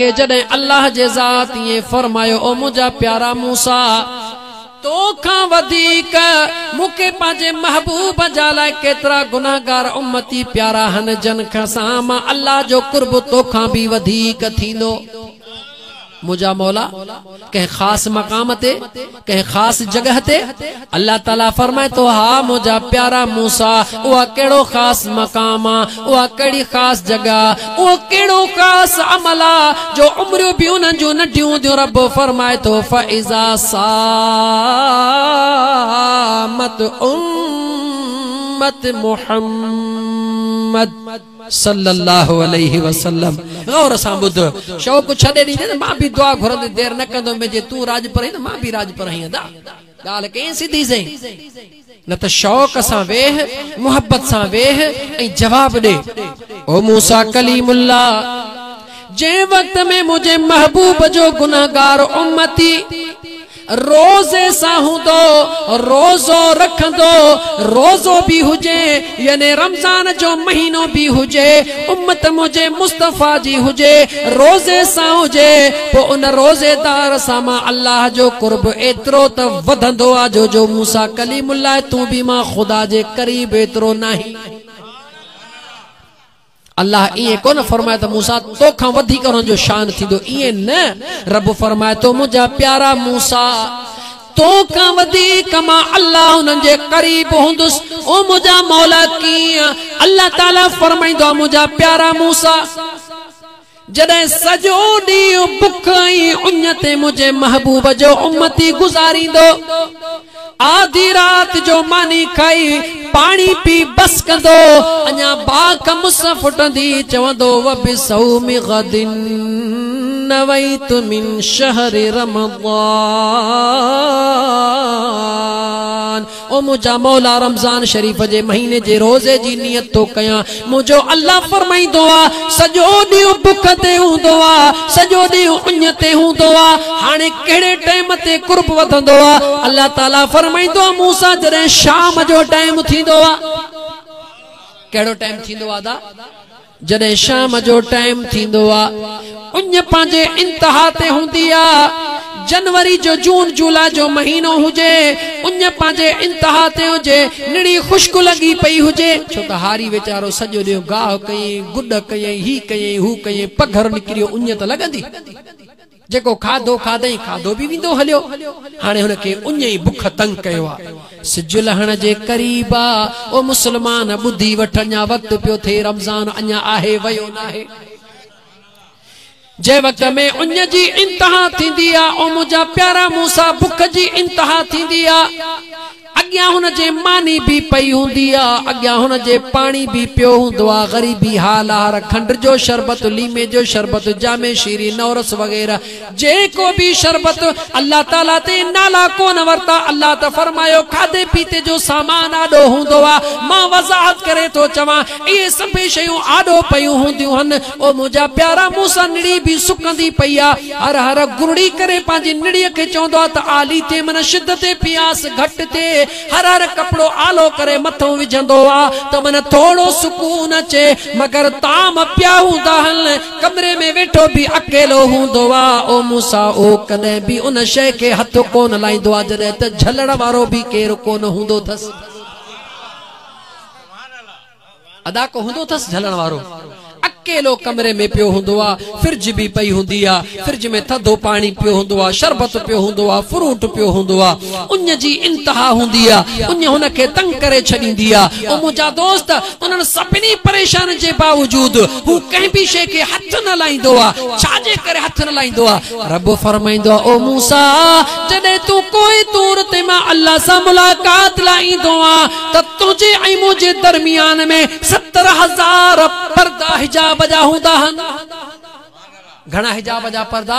جڏهن الله جي ذات ائين فرمايو، او منهنجا پيارا موسيٰ! تو کان وڌيڪ مون کي پنهنجي محبوب جا لاء ڪيترا گنهگار امتي پيارا آهن، جن کان سان مان الله جو قرب تو کان به وڌيڪ ٿيندو. منهنجا مولا! ڪنهن خاص مقام تي ڪنهن خاص جڳهه تي؟ الله تعالي فرمائي ٿو، ها منهنجا پيارا موسي! اها ڪهڙو خاص مقام آ؟ اها ڪهڙي خاص جڳهه آ؟ اهو ڪهڙو خاص عمل آ جو عمريون به انهن جون ننڍيون هونديون رب فرمائي ٿو، فاذا صامت امة محمد. صلّي اللّٰه عليه وسلّم غور سان ٻڌ، شوق ڇڏي ڏيندين ته مان به دعا گهرندي دير نه ڪندم، جي تون راڄ پرهين ته مان به راڄ پرهين ادا ڳالهه ڪئين سڌي سئين، نه ته شوق سان ويهه، محبت سان ويهه ۽ جواب ڏي، او موسيٰ ڪليم اللّٰه! جنهن وقت ۾ منهنجي محبوب جو گنهگار امّتي، روزي سان هوندو، روزو رکندو، روزو به هجي يعني رمضان جو مهينو به هجي، امت منهنجي مصطفيٰ جي هجي، روزي سان هجي، پوء ان روزيدار سان مان الله جو قرب ايترو ته وڌندو آ جو جو مون سان ڪليم الله تون به مان خدا جي قريب ايترو ناهين. الله ائين ڪونه فرمائي ته موسيٰ تو کان وڌيڪ انهن جو شان ٿيندو، ائين نه، رب فرمائي ٿو منهنجا پيارا موسيٰ! تو کان وڌيڪ مان الله انهن جي قريب هوندس، او منهنجا مولا ڪيئن؟ الله تعالي فرمائيندو آهي منهنجا پيارا موسيٰ! جڏهن سڄو ڏينهن بک ۽ اڃ تي منهنجي محبوب جو امتي گذاريندو، آڌي رات جو ماني کائي، پاڻي پي بس ڪندو، اڃا باک مس ڦٽندي چوندو، وبصوم غد نويت من شهر رمضان. او منهنجا مولا رمضان شريف جي مهيني جي روزي جي نيت ٿو ڪيان منهنجو الله فرمائيندو آ سڄو ڏينهن بک تي هوندو آ سڄو ڏينهن اڃ تي هوندو آ هاڻي ڪهڙي ٽيم تي قرب وڌندو آ الله تعالي فرمائيندو آ مون سان جڏهن شام جو ٽيم ٿيندو آ ڪهڙو ٽيم ٿيندو آ ادا جڏهن شام جو ٽائيم ٿيندو آ، اڃ پنهنجي انتها تي هوندي آ. جنوري جو جون جولاء جو مهينو هجي، اڃ پنهنجي انتها تي هجي، نڙي خشڪ لڳي پئي هجي، ڇو ته هاري ويچارو سڄو ڏينهن گاهه ڪيئي، گڏ ڪيئي، هي ڪيئي، هو ڪيئي، پگهر نڪريو، اڃ ته لڳندي. جيڪو کاڌو کاڌئين کاڌو به ويندو هليو. هاڻي هن کي اڃ ئي بک تنگ ڪيو آ. سج لهڻ جي قريب آ. او مسلمان ٻڌي وٺ اڃا وقت پيو ٿئي رمضان اڃا آهي ويو ناهي. جنهن وقت ۾ اڃ جي انتها ٿيندي آ او منهنجا پيارا مون سان بک جي انتها ٿيندي آ. اڳيان هن جي ماني به پئي هوندي آ، اڳيان هن جي پاڻي به پيو هوندو آ. غريبي ها لهر، کنڊ جو شربت، ليمي جو شربت، جامع شيري، نورس وغيره جيڪو به شربت الله تعاليٰ تي نالا ڪونه ورتا، الله ته فرمايو کاڌي پيتي جو سامان آڏو هوندو آ، مان وضاحت ڪري ٿو چوان اهي سڀيئي شيون آڏو پيون هونديون هن، او منهنجا پيارا، مون سان نڙي به سڪندي پئي آ. هر هر گرڙي ڪري پنهنجي نڙيء کي چوندو آ ته آلي ٿئي من شدت پياس گهٽ ٿئي. هر هر ڪپڙو آلو ڪري مٿئون وجهندو آ ته من ٿورڙو سڪون اچي. مگر طعام پيا هوندا هن. ڪمري ۾ ويٺو به اڪيلو هوندو آ. او موسيٰ، او ڪڏهن به ان شيء کي هٿ ڪونه لائيندو آ جڏهن ته جهلڻ وارو به ڪير ڪونه هوندو ٿس. ادا ڪو هوندو اٿس جهلڻ وارو. اڪيلو ڪمري ۾ پيو هوندو آ. فرج به پئي هوندي آ. فرج ۾ ٿڌو پاڻي پيو هوندو آ. شربت پيو هوندو آ. فروٽ پيو هوندو آ. اڃ جي انتها هوندي آ. اڃ هن کي تنگ ڪري ڇڏيندي آ. او منهنجا دوست! انهن سڀني پريشانين جي باوجود هو ڪنهن به شيء کي هٿ نه لائيندو آ. ڇا جي ڪري هٿ نه لائيندو آ؟ رب فرمائيندو آهي، او موسيٰ! جڏهن تون ڪوهه طور تي مان الله سان ملاقات لاء ايندو آهيان ته تنهنجي ۽ منهنجي درميان ۾ ستر هزار پردا حجاب جا هوندا آهن. گهڻا حجاب جا پردا،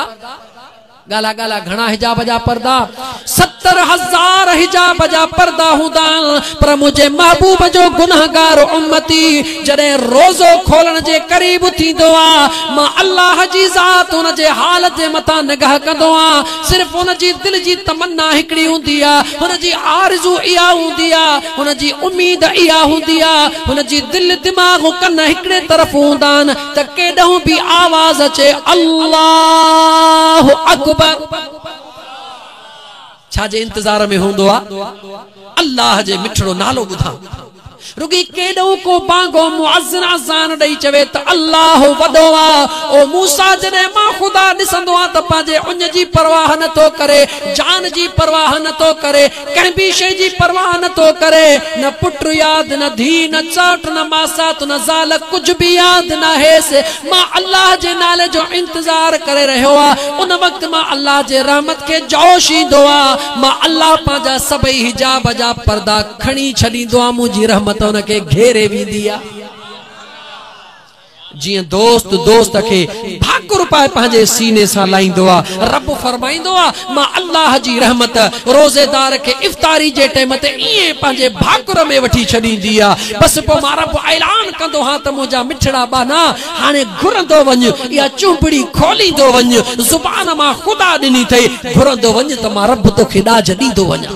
ڳالها ڳالها گهڻا حجاب جا پردا. ستر هزار حجاب جا پردا هوندا آهن، پر منهنجي محبوب جو گنهگار امتي جڏهن روزو کولڻ جي قريب ٿيندو آ، مان الله جي ذات ان جي حال جي مٿان نگاهه ڪندو آ، صرف هن جي دل جي تمنا هڪڙي هوندي آ، هن جي آرزو اها هوندي آ، هن جي اميد اها هوندي آ، هن جي دل، دماغ ۽ ڪن هڪڙي طرف هوندا آهن ته ڪيڏانهن به آواز اچي، الله اڪبر! ڇا جي انتظار ۾ هوندو آ الله جي مٺڙو نالو ٻڌان رڳي ڪيڏو ڪو بانگو معزن اذان ڏئي چوي ته الله وڏو آ او موسا جڏهن مان خدا ڏسندو آ ته پنهنجي اڃ جي پرواهه نه ٿو ڪري جان جي پرواهه نه ٿو ڪري ڪنهن ٻي شيء جي پرواهه نه ٿو ڪري، نه پٽ ياد، نه ڌيء، نه چاٽ، نه ماسات، نه زال، ڪجهه به ياد ناهيس. مان الله جي نالي جو انتظار ڪري رهيو آ. ان وقت مان الله جي رحمت کي جوش ايندو آ. مان الله پنهنجا سڀئي حجاب جا پردا کڻي ڇڏيندو آ، منهنجي رحمت ان کي گهيري ويندي آ. جيئن دوست دوست کي ڀاڪر پائي پنهنجي سيني سان لائيندو آ. رب فرمائيندو آ، مان الله جي رحمت روزيدار کي افطاري جي ٽيم تي ائين پنهنجي ڀاڪر ۾ وٺي ڇڏيندي آ. بس پوء مان رب اعلان ڪندو هان ته منهنجا مٺڙا ٻانها هاڻي گهرندو وڃ اها چونبڙي کوليندو وڃ زبان مان خدا ڏني اٿئي گهرندو وڃ ته مان رب توکي ڏاج ڏيندو وڃان.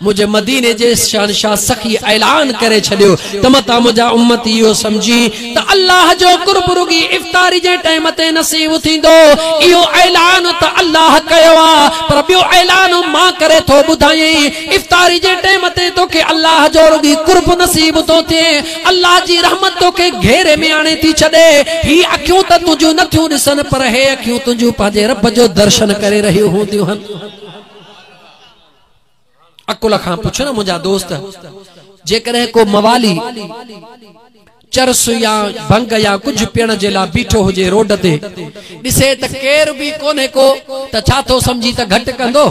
منهنجي مديني جي شهنشاهه سخي اعلان ڪري ڇڏيو ته متان منهنجا امتي اهو سمجهين ته الله جو قرب رڳي افطاري جي ٽيم تي نصيب ٿيندو اهو اعلان ته الله ڪيو آ پر ٻيو اعلان مان ڪري ٿو ٻڌايين افطاري جي ٽيم تي توکي الله جو رڳي قرب نصيب ٿو ٿئي الله جي رحمت توکي گهيري ۾ آڻي ٿي ڇڏي هي اکيون ته تنهنجون نه ٿيون ڏسن پر هي اکيون تنهنجون پنهنجي رب جو درشن ڪري رهيون هونديون هن عقل کان پڇ نه منهنجا دوست جيڪڏهن ڪو موالي چرس يا ڀنگ يا ڪجهه پيڻ جي لا بيٺو هجي روڊ تي ڏسي ته ڪير به ڪونهي ڪو ته ڇا ٿو سمجهي ته گهٽ ڪندو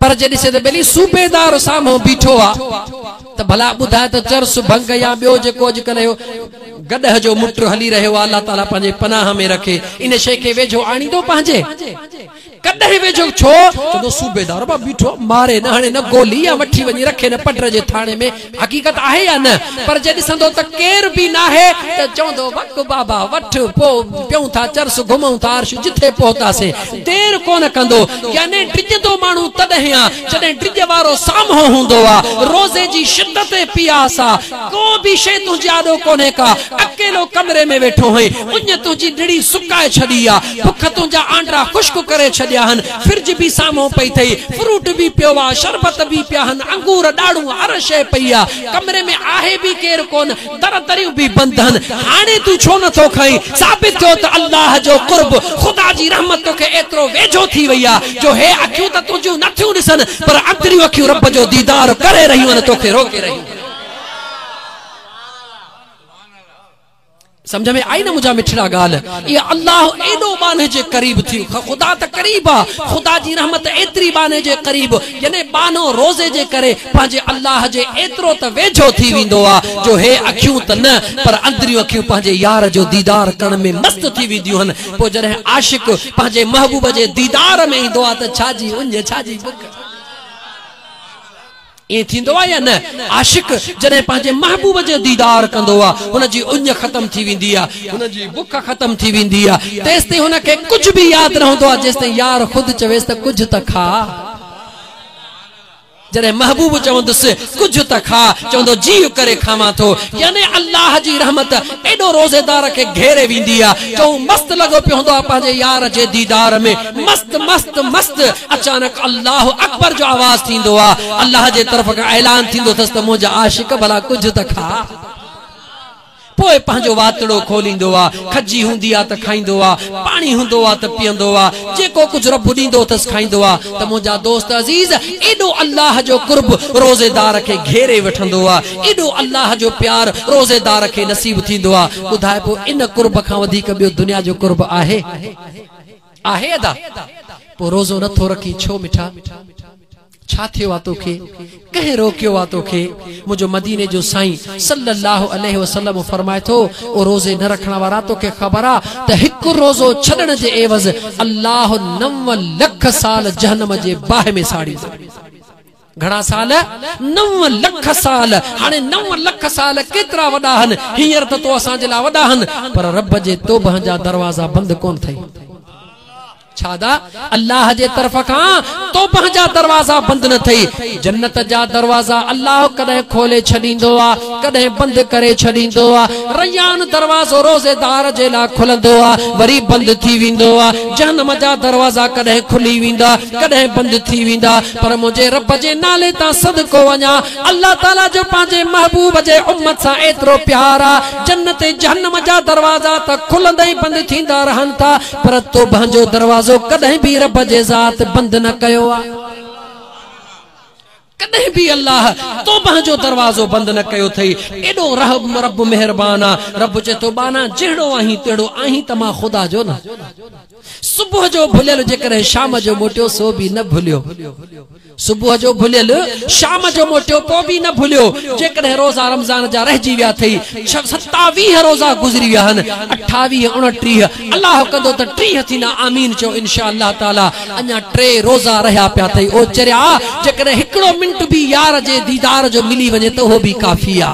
پر جي ڏسي ته ٻلي صوبيدار سامهون بيٺو آ ته ڀلا ٻڌاء ته چرس ڀنگ يا ٻيو جيڪو اڄڪلهه اهو گڏهه جو مٽ هلي رهيو آ الله تعالي پنهنجي پناهه ۾ رکي ان شيء کي ويجهو آڻيندو پنهنجي ڪڏهن ويجهو ڇو چوندو صوبيدار مان بيٺو ماري نه هڻي نه گولي يا وٺي وڃي رکي نه پڊر جي ٿاڻي ۾ حقيقت آهي يا نه پر جي ڏسندو ته ڪير به ناهي ته چوندو وک بابا وٺ پو پيون ٿا چرس گهمون ٿا عرش جٿي پهتاسين دير ڪونه ڪندو يعني ڊڄندو ماڻهو تڏهن آ جڏهن ڊڄ وارو سامهون هوندو آ روزي جي شدت ۽ پياس آ ڪو به شيء تنهنجي آڏو ڪونهي ڪا، اڪيلو ڪمري ۾ ويٺو هئين، اڃ تنهنجي نڙي سڪائي ڇڏي آ، بک تنهنجا آنڊا خشڪ ڪري ڇڏيا هن، فرج به سامهون پئي ٿئي، فروٽ به پيو آ، شربت به پيا هن، انگور، ڏاڙهون، هر شيء پئي آ، ڪمري ۾ آهي به ڪير ڪونه، در دريون به بند هن، هاڻي تون ڇو نه ٿو کائين، ثابت ٿيو ته الله جو قرب، خدا جي رحمت توکي ايترو ويجهو ٿي وئي آ، جو هي اکيون ته تنهنجيون نه ٿيون ڏسن، پر اندريون اکيون رب جو ديدار ڪري رهيون آهن، توکي روڪي رهيون آهن. سمجھ ۾ آئي نه منهنجا مٺڙا ڳالهه اي الله ايڏو ٻانهي جي قريب ٿي خدا ته قريب آ خدا جي رحمت ايتري ٻانهي جي قريب يعني ٻانهو روزي جي ڪري پنهنجي الله جي ايترو ته ويجهو ٿي ويندو آ جو هي اکيون ته نه پر اندريون اکيون پنهنجي يار جو ديدار ڪرڻ ۾ مست ٿي وينديون هن پوء جڏهن عاشق پنهنجي محبوب جي ديدار ۾ ايندو آ ته ڇا جي اڃ ڇا جي بک ائين ٿيندو آهي يا نه؟ عاشق جڏهن پنهنجي محبوب جو ديدار ڪندو آهي، هن جي اڃ ختم ٿي ويندي آهي، هن جي بک ختم ٿي ويندي آهي، تيستائين هن کي ڪجهه به ياد نه هوندو آهي، جيستائين يار خود چويس ته ڪجهه ته کاء. جڏهن محبوب چوندس ڪجهه ته کاء، چوندو جيء ڪري کاوان ٿو. يعني الله جي رحمت. ايڏو روزيدار کي گهيري ويندي آ جو هو مست لڳو پيو هوندو آ پنهنجي يار جي ديدار ۾ مست مست مست اچانڪ الله اڪبر جو آواز ٿيندو آ الله جي طرف کان اعلان ٿيندو ٿس ته منهنجا عاشق ڀلا ڪجهه ته کاء پوء پنهنجو واتڙو کوليندو آ کجي هوندي آ ته کائيندو آ پاڻي هوندو آ ته پيئندو آ جيڪو ڪجهه رب ڏيندو ٿس کائيندو آ ته منهنجا دوست عزيز ايڏو الله جو قرب روزيدار کي گهيري وٺندو آ ايڏو الله جو پيار روزيدار کي نصيب ٿيندو آ ٻڌائبو ان قرب کان وڌيڪ ٻيو دنيا جو قرب آهي؟ آهي ادا؟ پوء روزو نه ٿو رکين ڇو مٺا؟ ڇا ٿيو آ توکي؟ ڪنهن روڪيو آ توکي؟ منهنجو مديني جو سائين صلّي الله عليه وسلّم فرمائي ٿو او روزي نه رکڻ وارا توکي خبر آ ته هڪ روزو ڇڏڻ جي عيوض الله نو لک سال جهنّم جي باهه ۾ ساڙيندو. گهڻا سال؟ نو لک سال. هاڻي نو لک سال ڪيترا وڏا هن؟ هينئر ته تو اسان جي لاء وڏا هن، پر رب جي توبهه جا دروازا بند ڪونه ٿئي. ڇا دا؟ الله جي طرف کان توبهه جا دروازا بند نه ٿئي. جنت جا دروازا الله ڪڏهن کولي ڇڏيندو آ، ڪڏهن بند ڪري ڇڏيندو آ. ريان دروازو روزيدار جي لاء کلندو آ، وري بند ٿي ويندو آ. جهنم جا دروازا ڪڏهن کلي ويندا، ڪڏهن بند ٿي ويندا. پر منهنجي رب جي نالي تان صدقو وڃان، الله تعاليٰ جو پنهنجي محبوب جي امت سان ايترو پيار آ، جنت ۽ جهنم جا دروازا ته کلندا ۽ بند ٿيندا رهن ٿا، پر توبهن جو دروازو ڪڏهن به رب جي ذات بند نه ڪيو آ. ڪڏهن به الله توبهن جو دروازو بند نه ڪيو اٿئي، ايڏو رحم رب مهربان آ، رب چئي ٿو، ٻانها جهڙو آهين تهڙو آهين ته مان خدا جو نه. صبح جو ڀليل جيڪڏهن شام جو موٽيو سو به نه ڀليو صبح جو ڀليل شام جو موٽيو پو به نه ڀليو جيڪڏهن روزا رمضان جا رهجي ويا ٿئي ستاويهه روزا گذري ويا هن اٺاويهه اڻٽيهه الله ڪندو ته ٽيهه ٿيندا آمين چئو انشاء الله تعالي اڃا ٽي روزا رهيا پيا ٿئي او چريا جيڪڏهن هڪڙو منٽ به يار جي ديدار جو ملي وڃي ته اهو به ڪافي آ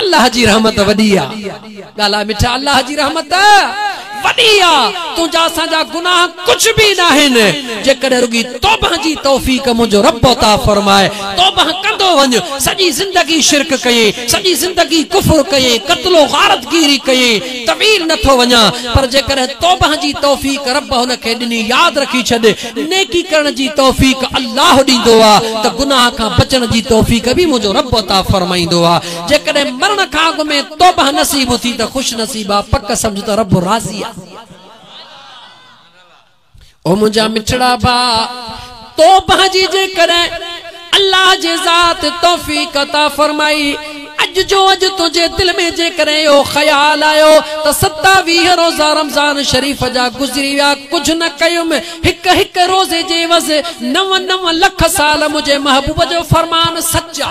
الله جي رحمت وڏي آ. ڳالهاء مٺا الله جي رحمت وڏي آ. تنهنجا اسان جا گناهه ڪجهه به ناهن. جيڪڏهن رڳي توبه جي توفيق منهنجو رب عطا فرمائي. توبه ڪندو وڃ. سڄي زندگي شرڪ ڪيئين. سڄي زندگي ڪفر ڪيئين. قتل و غارت گيري ڪيئين. طويل نٿو وڃان. پر جيڪڏهن توبه جي توفيق رب هن کي ڏني ياد رکي ڇڏ. ڏي. نيڪي ڪرڻ جي توفيق الله ڏيندو آ ته گناهه کان بچڻ جي توفيق به منهنجو رب عطا فرمائيندو آ. جيڪڏهن مرڻ کان اڳ ۾ توبه نصيب ٿي ته خوش نصيب آ، پڪ سمجهه ته رب راضي آ. او منهنجا مٺڙا ڀاء! توبه جي جيڪڏهن. الله جي ذات توفيق عطا فرمائي. اڄ جو اڄ تنهنجي دل ۾ جيڪڏهن اهو خيال آيو ته ستاويهه روزا رمضان شريف جا گذري ويا ڪجهه نه ڪيم هڪ هڪ روزي جي عوض نو نو لک سال منهنجي محبوب جو فرمان سچ آ.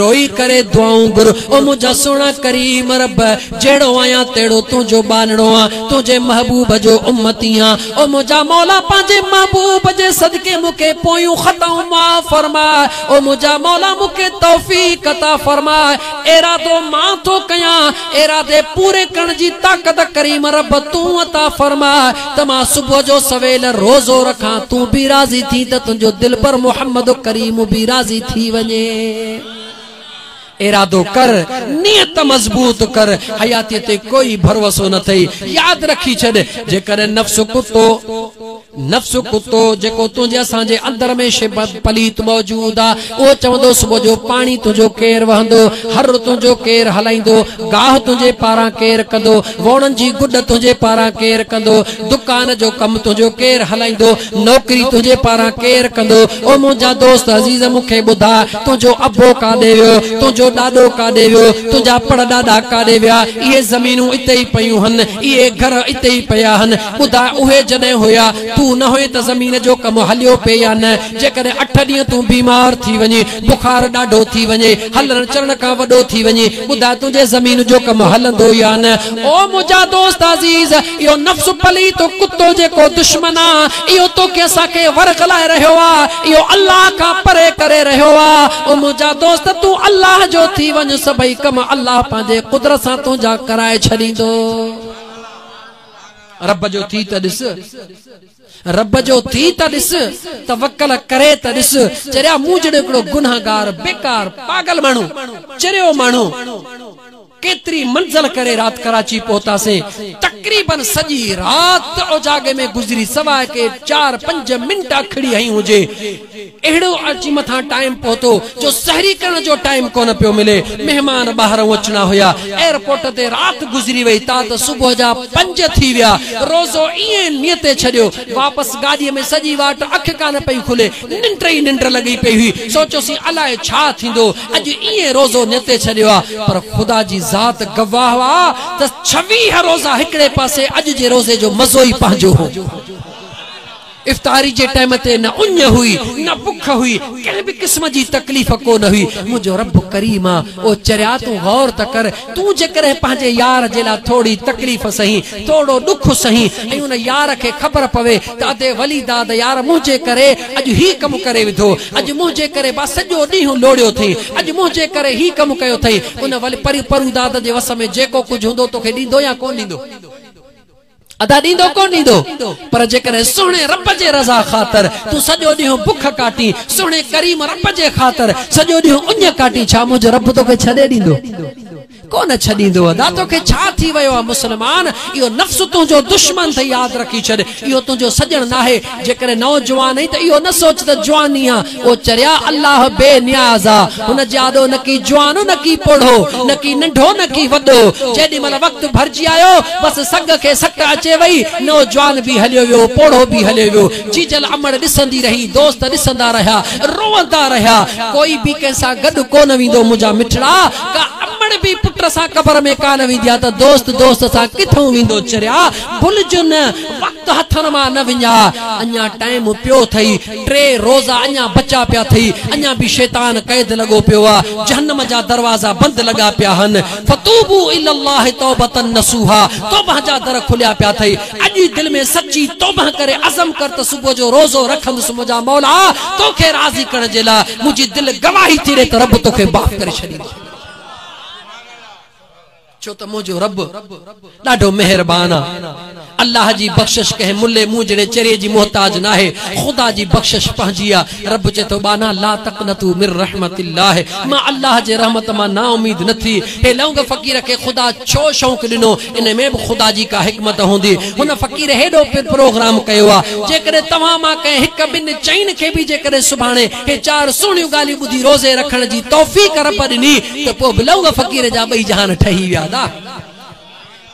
روئي ڪري دعائون گهر او منهنجا سهڻا ڪريم رب جهڙو آهيان تهڙو تنهنجو ٻانهڙو آن تنهنجي محبوب جو امتي آن او منهنجا مولا پنهنجي محبوب جي صدقي مون کي پويون خطائون معاف فرماء او منهنجا مولا مون کي توفيق عطا فرماء ارادو مان ٿو ڪيان ارادي پوري ڪرڻ جي طاقت ڪريم رب تون عطا فرماء ته مان صبح جو سويل روزو رکان تون به راضي ٿين ته تنهنجو دلبر محمد ڪريم به راضي ٿي وڃي. ارادو ڪر نيت مضبوط ڪر حياتي تي ڪوئي ڀروسو نه اٿئي ياد رکي ڇڏ جيڪڏهن نفس ڪتو. نفس ڪتو جيڪو تنهنجي اسان جي اندر ۾ شي پليت موجود آ اهو چوندو صبح جو پاڻي تنهنجو ڪير وهندو هر تنهنجو ڪير هلائيندو گاهه تنهنجي پاران ڪير ڪندو ووڻن جي گڏ تنهنجي پاران ڪير ڪندو دڪان جو ڪم تنهنجو ڪير هلائيندو نوڪري تنهنجي پاران ڪير ڪندو او منهنجا دوست عزيز مون کي ٻڌاء تنهنجو ابو ڪاڏي ويو تنهنجو ڏاڏو ڪاڏي ويو تنهنجا پڙڏاڏا ڪاڏي ويا اهي زمينون اتي ئي پيون هن اهي گهر اتي ئي پيا هن ٻڌاء اهي جڏهن هيا، تون نه هئين ته زمين جو ڪم هليو پئي يا نه؟ جيڪڏهن اٺ ڏينهن تون بيمار ٿي وڃين، بخار ڏاڍو ٿي وڃي، هلڻ چلڻ کان وڏو ٿي وڃين، ٻڌاء تنهنجي زمين جو ڪم هلندو يا نه؟ او منهنجا دوست عزيز! اهو نفس پليت ڪتو جيڪو دشمن آ، اهو توکي اسان کي ورغلائي رهيو آ، اهو الله کان پري ڪري رهيو آ. او منهنجا دوست! تون الله جو ٿي وڃ، سڀئي ڪم الله پنهنجي قدرت سان تنهنجا ڪرائي ڇڏيندو. رب جو ٿي ته ڏس رب جو ٿي ته ڏس توکل ڪري ته ڏس چريا مون جهڙو هڪڙو گناهگار بيڪار پاگل ماڻهو چريو ماڻهو ڪيتري منزل ڪري رات ڪراچي پهتاسين تقريبن سڄي رات اوجاڳي ۾ گذري سواء ڪي چار پنج منٽ اکڙي هئي هجي اهڙو عرضي مٿان ٽائيم پهتو جو سحري ڪرڻ جو ٽائيم ڪونه پيو ملي. مهمان ٻاهرئون اچڻا هيا. ايئرپورٽ تي رات گذري وئي تا ته صبح جا پنج ٿي ويا. روزو ايئن نيتي ڇڏيو. واپس گاڏيء ۾ سڄي واٽ اک ڪانه پئي کلي. ننڊ ئي ننڊ لڳي پئي هئي. سوچيوسين الاء ڇا ٿيندو. اڄ ايئن روزو نيتي ڇڏيو آ. پر خدا جي ذات گواهه آ ته ڇويهه روزا هڪڙي پاسي اڄ جي روزي جو مزو ئي پنهنجو هو. افطاري جي ٽيم تي نه اڃ هئي، نه بک هئي، ڪنهن به قسم جي تڪليف ڪو نه هئي. منهنجو رب ڪريم آ، او چريا تون غور ته ڪر، تون جيڪڏهن پنهنجي يار جي لاء ٿورڙي تڪليف سهين، ٿورڙو ڏک سهين ۽ ان يار کي خبر پوي ته ادي ولي داد يار منهنجي ڪري اڄ هي ڪم ڪري وڌو، اڄ منهنجي ڪري با سڄو ڏينهن لوڙيو اٿئي، اڄ منهنجي ڪري هي ڪم ڪيو اٿئي، ان ولي پروداد جي وس ۾ جيڪو ڪجهه هوندو توکي ڏيندو يا ڪونه ڏيندو؟ ادا ڏيندو ڪونه ڏيندو پر جيڪڏهن سهڻي رب جي رضا خاطر تون سڄو ڏينهن بک ڪاٽين سهڻي ڪريم رب جي خاطر سڄو ڏينهن اڃ ڪاٽين ڇا منهنجو رب توکي ڇڏي ڏيندو ڪونه ڇڏيندو ادا توکي ڇا ٿي ويو آ مسلمان اهو نفس تنهنجو دشمن اٿئي ياد رکي ڇڏ اهو تنهنجو سڄڻ ناهي جيڪڏهن نوجوان آهين ته اهو نه سوچ ته جواني آ او چريا الله بي نياز آ هن جي آڏو نه ڪي جوان نه ڪي پوڙهو نه ڪي ننڍو نه ڪي وڏو جيڏي مهل وقت ڀرجي آيو بس سنگ کي سٽ اچي وئي نوجوان به هليو ويو پوڙهو به هليو ويو جيجل امڙ ڏسندي رهي دوست ڏسندا رهيا روئندا رهيا ڪوئي به ڪنهن سان گڏ ڪونه ويندو منهنجا مٺڙا ڪا امڙ به پٽ سان قبر ۾ ڪانه ويندي آ ته دوست دوست سان ڪٿئون ويندو چريا ڀلجو نه وقت هٿن مان نه وڃاء، اڃا ٽائيم پيو اٿئي، ٽي روزا اڃا بچا پيا اٿئي، اڃا به شيطان قيد لڳو پيو آ، جهنم جا دروازا بند لڳا پيا هن، فتوبو الي الله توبة نصوحا، توبه جا در کليا پيا اٿئي، اڄ ئي دل ۾ سچي توبه ڪري عزم ڪر ته صبح جو روزو رکندس منهنجا مولا توکي راضي ڪرڻ جي لاء منهنجي دل گواهي ٿي ڏي ته رب توکي معاف ڪري ڇڏيندو. ڇو ته منهنجو رب ڏاڍو مهربان آ. الله جي بخشش ڪنهن ملي مون جهڙي چري جي محتاج ناهي. خدا جي بخشش پنهنجي آ. رب چئي ٿو ٻانها لا تقنطوا من رحمت الله مان الله جي رحمت مان نااميد نه ٿي. هي لونگ فقير کي خدا ڇو شونق ڏنو؟ ان ۾ به خدا جي ڪا حڪمت هوندي. هن فقير هيڏو پروگرام ڪيو آ. جيڪڏهن توهان مان ڪنهن هڪ ٻن چئن کي به جيڪڏهن سڀاڻي کي چار سهڻيون ڳالهيون ٻڌي روزي رکڻ جي توفيق رب ڏني ته پوء به لونگ فقير جا ٻئي جهان ٺهي ويا دا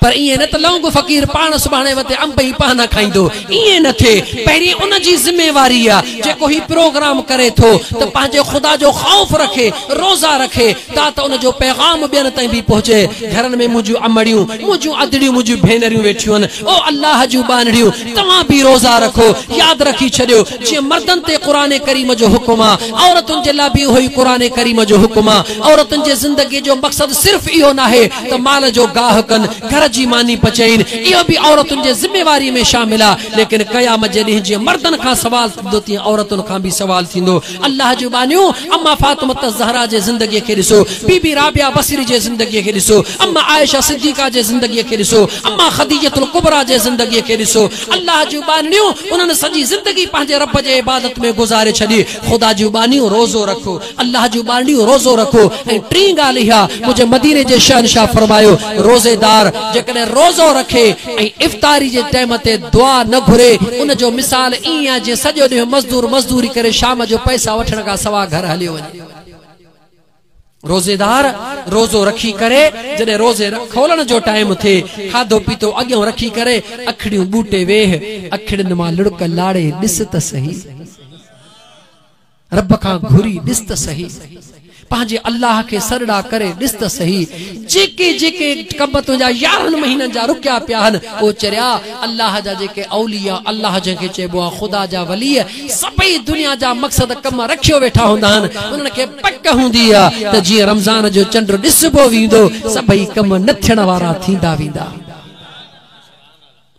پر ائين نه ته لونگ فقير پاڻ سڀاڻي وتي انب ۽ پانا کائيندو ائين نه ٿئي پهرين ان جي ذميواري آ جيڪو هي پروگرام ڪري ٿو ته پنهنجي خدا جو خوف رکي روزا رکي تا ته ان جو پيغام ٻين تائين به پهچي گهرن ۾ منهنجون امڙيون منهنجون ادڙيون منهنجون ڀينريون ويٺيون آهن او الله جون ٻانهڙيون توهان به روزا رکو ياد رکي ڇڏيو جيئن مردن تي قرآن ڪريم جو حڪم آ، عورتن جي لاء به اهو ئي قرآن ڪريم جو حڪم آ. عورتن جي زندگيء جو مقصد صرف اهو ناهي ته مال جو گاهه ڪن، گهر جي ماني پچائين، اهو به عورتن جي ذميواريء ۾ شامل آ، ليڪن قيامت جي ڏينهن جيئن مردن کان سوال ٿيندو تيئن عورتن کان به سوال ٿيندو. الله جون ٻانهيون! اما فاطمة الزهراء جي زندگيء کي ڏسو، بي بي رابعه بصري جي زندگيء کي ڏسو، اما عائشه صديقه جي زندگيء کي ڏسو، اما خديجة الڪبريٰ جي زندگيء کي ڏسو، الله جون ٻانهڙيون، انهن سڄي زندگي پنهنجي رب جي عبادت ۾ گذاري ڇڏي. خدا جون ٻانهيون، روزو رکو. الله جون ٻانهڙيون، روزو رکو. ۽ ٽين ڳالهه اها، منهنجي مديني جي شهنشاهه فرمايو، روزيدار جيڪڏهن روزو رکي ۽ افطاري جي ٽيم تي دعا نه گهري، ان جو مثال ائين آهي جيئن سڄو ڏينهن مزدور مزدوري ڪري شام جو پئسا وٺڻ کان سواء گهر هليو وڃي. روزيدار روزو رکي ڪري جڏهن روزي کولڻ جو ٽائيم ٿئي کاڌو پيتو اڳيئون رکي ڪري اکڙيون ٻوٽي ويهه اکڙين مان لڙڪ لاڙي ڏس ته سهي رب کان گهري ڏس ته سهي پنهنجي الله کي سرڙا ڪري ڏس ته سهي جيڪي جيڪي ڪم تنهنجا يارهن مهينن جا رڪيا پيا آهن او چريا الله جا جيڪي اوليا الله جنهن کي چئبو آهي خدا جا ولي سڀئي دنيا جا مقصد ڪم رکيو ويٺا هوندا آهن، انهن کي پڪ هوندي آ ته جيئن رمضان جو چنڊ ڏسبو ويندو، سڀئي ڪم نه ٿيڻ وارا ٿيندا ويندا.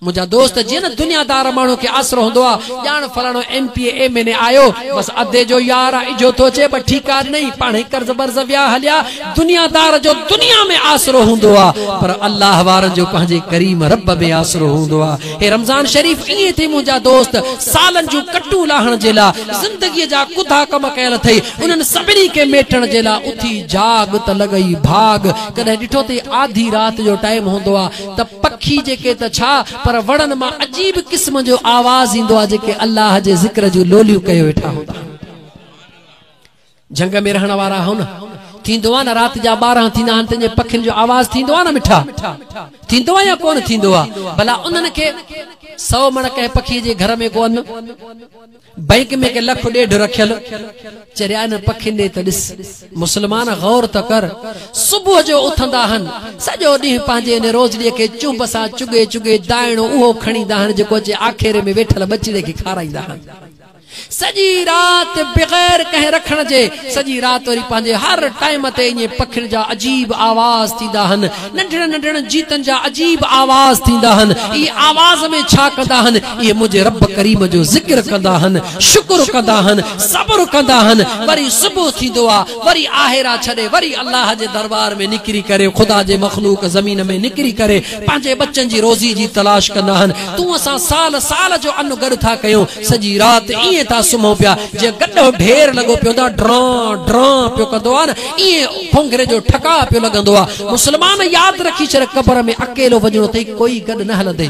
منهنجا دوست جيئن نه دنيا دار ماڻهو کي آسرو هوندو آ، ڄاڻ فلاڻو M P A M N A آيو، بس ادي جو يار آ، اجهو ٿو اچي ٻه ٺيڪا ڏنئي، پاڻهي قرض برض ويا هليا، دنيا دار جو دنيا ۾ آسرو هوندو آ، پر الله وارن جو پنهنجي ڪريم رب ۾ آسرو هوندو آ. هي رمضان شريف ائين ٿي منهنجا دوست سالن جون ڪٽون لاهڻ جي لا زندگي جا ڪڌا ڪم ڪيل اٿئي انهن سڀني کي ميٽڻ جي لا اٿي جاڳ ته لڳئي ڀاڳ ڪڏهن ڏٺو اٿئي آڌي رات جو ٽائيم هوندو آ ته پکي جيڪي ته ڇا پر وڻن مان عجيب قسم جو آواز ايندو آ جيڪي الله جي ذڪر جون لوليون ڪيو ويٺا هوندا آهن. جهنگ ۾ رهڻ وارا آهيو نه، ٿيندو آهي نه رات جا ٻارهن ٿيندا آهن تنهنجي پکين جو آواز ٿيندو آهي نه مٺا، ٿيندو آهي يا ڪونه ٿيندو آهي، ڀلا انهن کي سئو مڻ ڪنهن پکي جي گهر ۾ ڪو ان، بئنڪ ۾ ڪي لک ڏيڍ رکيل، چريا انهن پکين ڏي ته ڏس، مسلمان غور ته ڪر، صبح جو اٿندا آهن، سڄو ڏينهن پنهنجي ان روزڙيء کي چنب سان چگهي چگهي دائڻو اهو کڻيندا آهن جيڪو اچي آکيري ۾ ويٺل ٻچڙي کي کارائيندا آهن. سڄي رات بغير ڪنهن رکڻ جي سڄي رات وري پنهنجي هر ٽائيم تي ائين پکين جا عجيب آواز ٿيندا هن ننڍڙن ننڍڙن جيتن جا عجيب آواز ٿيندا هن اهي آواز ۾ ڇا ڪندا هن اهي منهنجي رب ڪريم جو ذڪر ڪندا هن شڪر ڪندا هن صبر ڪندا هن وري صبح ٿيندو آ وري آهيرا ڇڏي وري الله جي دربار ۾ نڪري ڪري خدا جي مخلوق زمين ۾ نڪري ڪري پنهنجي ٻچن جي روزي جي تلاش ڪندا آهن، تون اسان سال سال جو ان گڏ ٿا ڪيون، سڄي رات ائين ٿا سمهون پيا، جيئن گڏهو ڍير لڳو پيو هوندا ڊران ڊران پيو ڪندو آهي نه، ائين ڦونگهري جو ٺڪاء پيو لڳندو آهي. مسلمان ياد رکي ڇڏ قبر ۾ اڪيلو وڃڻو اٿئي ڪوئي گڏ نه هلندئي.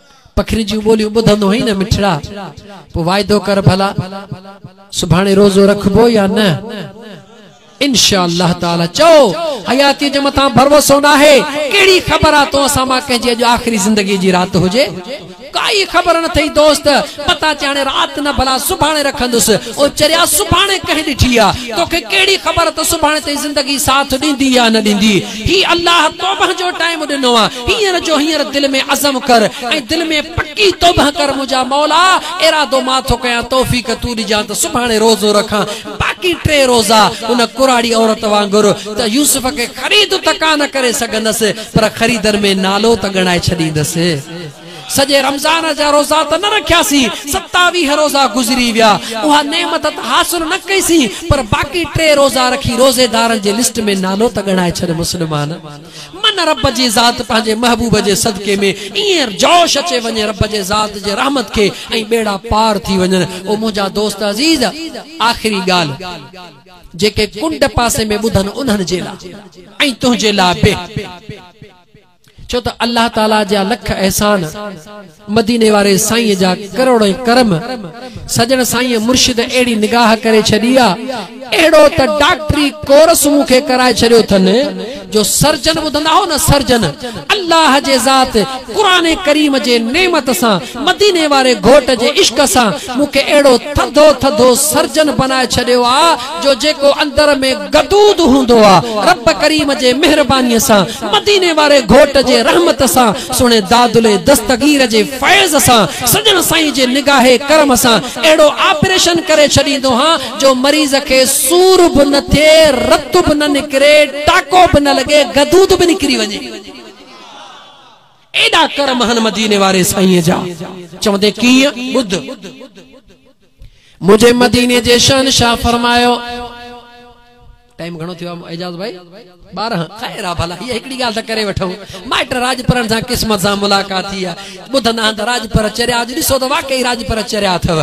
پکين جون ٻوليون ٻڌندو هئين نه مٺڙا؟ پوء واعدو ڪر ڀلا سڀاڻي روزو رکبو يا نه؟ انشاء الله تعاليٰ چئو حياتيء جي مٿان ڀروسو ناهي، ڪهڙي خبر آ تو اسان مان ڪنهن جي اڄ آخري زندگيء جي رات هجي؟ ڪائي خبر نه ٿئي دوست، متان چي هاڻي رات نه ڀلا سڀاڻي رکندس، او چريا سڀاڻي ڪنهن ڏٺي آ؟ توکي ڪهڙي خبر ته سڀاڻي تائين زندگي ساٿ ڏيندي يا نه ڏيندي؟ هي الله توبهه جو ٽائيم ڏنو آ هينئر جو هينئر دل ۾ عزم ڪر ۽ دل ۾ پڪي توبهه ڪر منهنجا مولا ارادو مان ٿو ڪيان توفيق تون ڏجان ته سڀاڻي روزو رکان باقي ٽي روزا ان ڪراڙي عورت وانگر ته يوسف کي خريد ته ڪانه ڪري سگهندس پر خريدن ۾ نالو ته ڳڻائي ڇڏيندس. سڄي رمضان جا روزا ته نه رکياسين، ستاويهه روزا گذري ويا، اها نعمت ته حاصل نه ڪئيسين، پر باقي ٽي روزا رکي روزيدارن جي لسٽ ۾ نالو ته ڳڻائي ڇڏ مسلمان. من رب جي ذات پنهنجي محبوب جي صدقي ۾ ائين جوش اچي وڃي رب جي ذات جي رحمت کي ۽ ٻيڙا پار ٿي وڃن او منهنجا دوست عزيز آخري ڳالهه جيڪي ڪنڊ پاسي ۾ ٻڌن انهن جي لا۽ تنهنجي لا به ڇو ته الله تعاليٰ جا لک احسان، مديني واري سائينء جا ڪروڙين ڪرم، سڄڻ سائينء مرشد اهڙي نگاهه ڪري ڇڏي آ، اهڙو ته ڊاڪٽري ڪورس مون کي ڪرائي ڇڏيو ٿن جو سرجن ٻڌندا هئو نه سرجن، الله جي ذات قرآن ڪريم جي نعمت سان، مديني واري گهوٽ جي عشق سان مون کي اهڙو ٿڌو ٿڌو سرجن بنائي ڇڏيو آ، جو جيڪو اندر ۾ غدود هوندو آ، رب ڪريم جي مهربانيء سان، مديني واري گهوٽ جي رحمت سان، سهڻي دادلي دستگير جي فيض سان، سڄڻ سائين جي نگاهه ڪرم سان اهڙو آپريشن ڪري ڇڏيندو هان جو مريض کي سور به نه ٿئي، رت به نه نڪري، ٽاڪو به نه لڳي، غدود به نڪري وڃي. ايڏا ڪرم هن مديني واري سائينء جا. چوندين ڪيئن؟ ٻڌ. منهنجي مديني جي شهنشاهه فرمايو. ٽائيم گهڻو ٿيو آهي اعجاز ڀائي ٻارهن خير آ ڀلا هيء هڪڙي ڳالهه ته ڪري وٺون مائٽ راڄپرن سان قسمت سان ملاقات ٿي آ ٻڌندا آهن ته راڄپر چريا اڄ ڏسو ته واقعي راڄپر چريا اٿو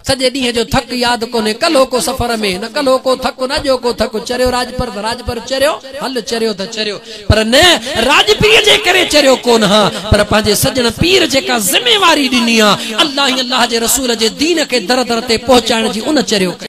سڄي ڏينهن جو ٿڪ ياد ڪونهي ڪلهوڪو سفر ۾ نه ڪلهوڪو ٿڪ نه اڄوڪو ٿڪ چريو راڄپر ته راڄپر چريو هل چريو ته چريو پر نه راڄپيء جي ڪري چريو ڪو نه ها، پر پنهنجي سڄڻ پير جيڪا ذميواري ڏني ها، الله ۽ الله جي رسول جي دين کي در در تي پهچائڻ جي ان چريو ڪئي.